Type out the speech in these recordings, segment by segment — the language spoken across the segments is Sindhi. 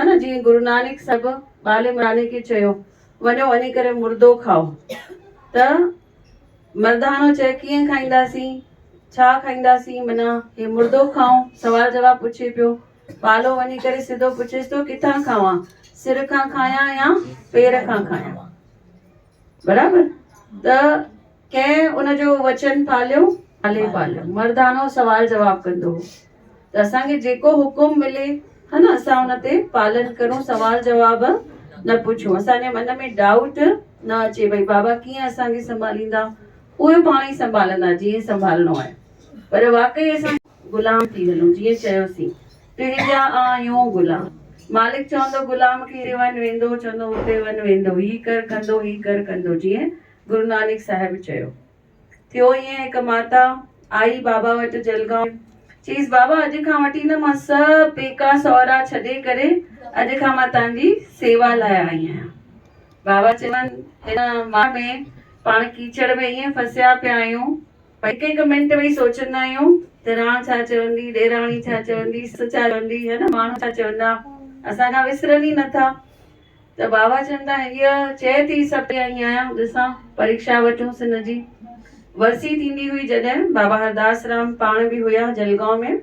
ان جيئن گرونانڪ صاحب ٻالمراڻي کي چيو، وڃو وڃي ڪري مردو کائو. ته مرداڻو چئي ڪيئن کائينداسين؟ ڇا کائينداسين؟ منا هي مردو کائون؟ سوال جواب پڇي پيو. ٻالو وڃي ڪري سڌو پڇيس ٿو، ڪٿان کاوان؟ سر کان کايان يا پير کان کايان؟ برابر ته ڪنهن ان جو وچن پاليو پالي پاليو مردانو سوال جواب ڪندو هو ته اسان کي جيڪو حڪم ملي ها نه اسان ان تي پالن ڪرون سوال جواب نه پڇون اسانجي من ۾ ڊائوٽ نه اچي بھي بابا ڪيئن اسانکي سنڀاليندا اهي پاڻ ئي سنڀالندا جيئن سنڀالڻو آهي پر واقعي اسان غلام ٿي هلون جيئن چيوسين تنهنجا آهيون غلام. مالڪ چوندو غلام کي هتي وڃ ويندو چوندو هتي وڃ ويندو هي ڪر ڪندو هي ڪر ڪندو جيئن گرونانڪ صاحب چيو. ٿيو ائين هڪ ماتا آئي بابا وٽ جلگائون چيس بابا اڄ کان وٺي نه مان سڀ پيڪا سهرا ڇڏي ڪري اڄ کان مان تان جي سيوا لاء آئي آهيان بابا چيون هن ماڻهن ۾ پاڻ ڪيچڙ ۾ ائين ڦسيا پيا آهيون. پر هڪ هڪ منٽ ويهي سوچيندا آهيون ته راڻ ڇا چوندي، ڏيراڻي ڇا چوندي، سس ڇا چوندي، هي نه ماڻهو ڇا چوندا، اسان کان وسرن ئي نٿا. ته بابا چون ٿا هيء چئي ٿي سڀ ڪري آئي آهيان، ڏسان پريڪشا وٺونس هن جي. ورسي ٿيندي هئي جڏهن بابا هرداس رام پاڻ به هيا جلگائون ۾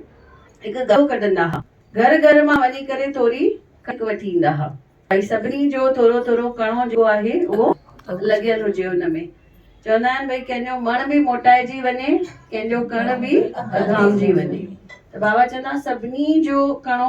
هڪ گهرو ڪڍندا ها، گهر گهر مان وڃي ڪري ٿوري ڪڻڪ وٺي ايندا ها. ڀائي سڀني جو ٿورو ٿورو ڪڻو جو آهي اهو لڳيل هجي ان ۾ چوندا آهن ڀئي ڪنهن جو مڻ به موٽائجي وڃي ڪنهن جو ڪڻ به اڌامجي وڃي ته بابا چوندا سڀني جو ڪڻو